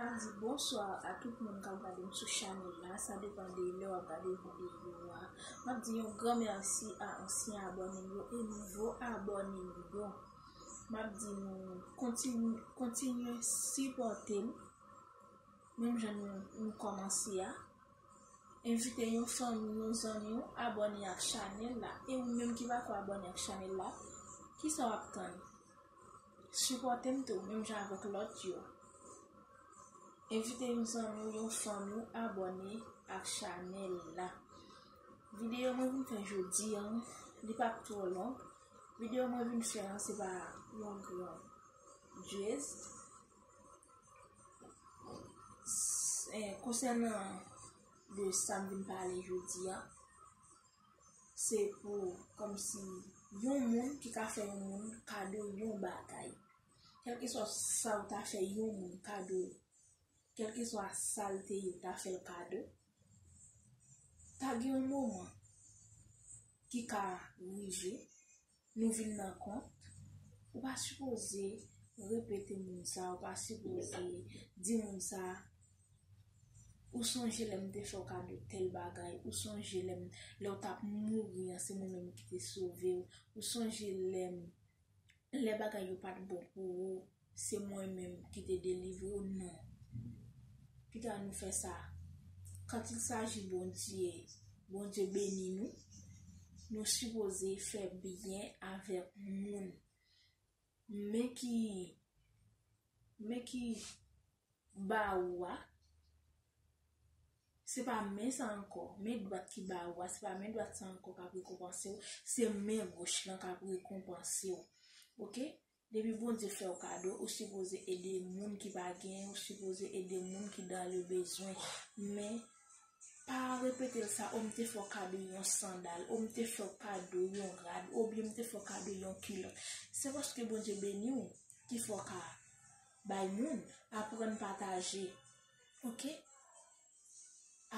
Map di bonsoir a tout moun kap gadem sou chanel la sa depan de lè wap gade video a map di yon gran merci a ansyen abònem yo e nouvo abònem yo map di nou kontinye kontinye sipòtem menm jan nou nou kòmanse a envite yon fanmi yon zanmi ou abòne ak chanel la e ou menm ki pako abòne ak chanel la kisa wap tann Sipòte m tou menm jan avèk lòt yo. Envite yon zanmi ou yon fanmi ou abòne ak chanèl la. Videyo mwen vin fè jodi an, li pa p twò long. Videyo mwen vin fè an se pa yon gran jèst. Konsènan de sa m vin pale jodi an. se pou kòmsi yon moun ki ka fè yon moun kado yon bagay. Kèlkeswa sa ou ta fè yon moun kado, kèlkeswa sa l te ye ou ta fè l kado, ta gen yon moman ki ka rive, Nou vin nan kont, ou pa sipoze repete moun sa, ou pa sipoze di moun sa, ou sonje lè m te fè w kado tèl bagay, ou sonje lè m, lè w t ap mouri an se mwen menm ki te sove w, ou sonje lè m, lè bagay yo pa t bon pou ou, Se mwen menm ki te delivre w non. Ki ta nou fè sa? Quand il s'agit Bondye, Bondye beni nou, nou sipoze fè byen avèk moun. Men ki men ki ba ou a, se pa men sa ankò, men dwat ki ba ou a, se pa men dwat sa ankò k ap rekonpanse w, se men goch lan k ap rekonpanse w. Ok? Depi Bondye fèw kado ou sipoze ede moun ki pa gen ou sipoze ede moun ki dan le bezwen men pa repetel sa o m te fèw kado yon sandal o m te fèw kado yon rad ou byen m te fèw kado yon kilòt se paske Bondye beniw ki fè w ka bay moun aprann pataje ok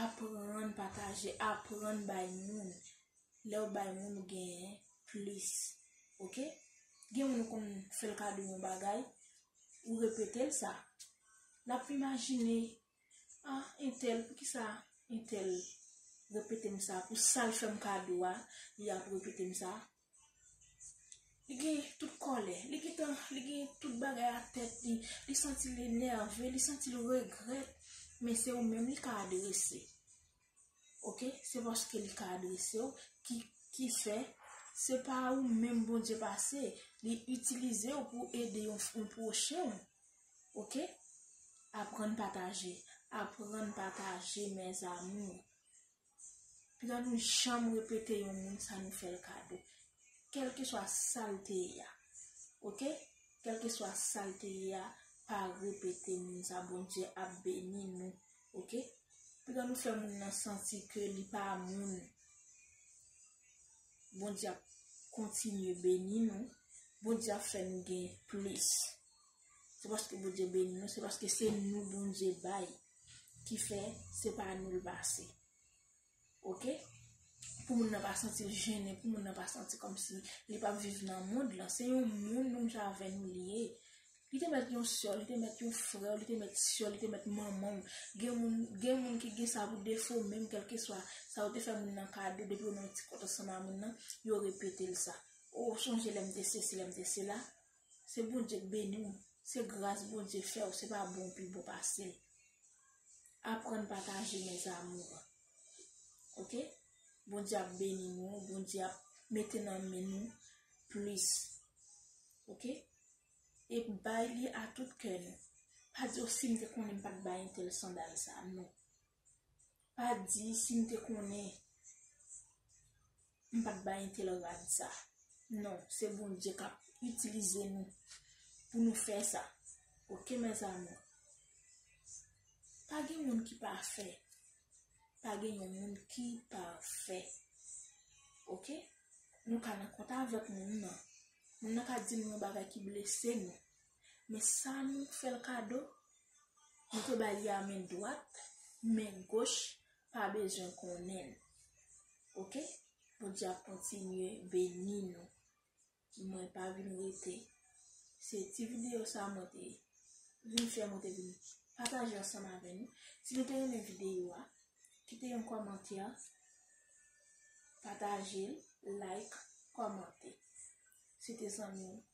aprann pataje aprann bay moun lèw bay moun ou genyen plis ok gen moun ou konn fèl kado yon bagay ou repetel sa lap imajine ah entèl poukisa entèl repetem sa pou sal fèm kado a li ap repetem sa li gen tout kòlè li gentan li gen tout bagay a tèt li li santi li nève li santi li regrèt men se ou menm li ka adrese. Ok, se paske li ka adrese w ki ki fè se pa ou menm Bondye pase, li itilize w pou ede yon yon pwochen w. Ok? Aprann pataje, aprann pataje mes amours. Pita nou janm repete yon moun sa nou fè l kado. Kèlkeswa sa l te ye a. Ok? Kèlkeswa sa l te ye a, pa repete moun sa Bondye ap beni nou. Ok Piga nou fè moun nan santi ke li pa moun Bondye ap kontinye beni nou Bondye ap fè nou gen plis Se paske Bondye beni nou se paske se nou Bondye bay ki fè se pa nou li pase. Ok pou moun nan pa santi l jennen pou moun nan pa santi kòmsi li pap viv nan mond lan se yon moun menm jan avè nou li ye li te mèt yon sè w li te mèt yon frè w li te mèt sè w li te mèt manman w gen moun gen moun ki gen sa pou defo menm kèlkeswa sa ou te fè moun nan kado depi ou nan yon ti kont ansanm a moun nan yo repete l sa o sonje lè m te sesi lè m te sela. Se Bondye k beni w, se gras Bondye fè w se pa bon w pi bon pase l. Aprann pataje mes amours. Ok Bondye ap beni nou, Bondye ap mete nan men nou plis ok e bay li a tout kè nou. Pa di o sim te konnen m pat bay entèl sandal sa non. Pa di si m te konnen m pat bay entèl rad sa. Non, se Bondye kap itilize nou pou nou fè sa. Ok mes amour. Pa gen moun ki pafè. Pa gen yon moun ki pafè. Ok. Nou ka nan kont avèk moun nan. Moun nan ka di nou yon bagay ki blese nou. Men sa nou fè l kado, nou te ba li a men dwat, men goch pa bezwen konnen l. Ok, Bondye ap kontinye beni nou. Mwen pa vin rete. Se ti videyo sa mwen te vin fè, mwen te vin pataje ansanm avè nou. Si nou te renmen videyo a, kite yon kòmantè, pataje l, like, kòmante. Se te zanmi w.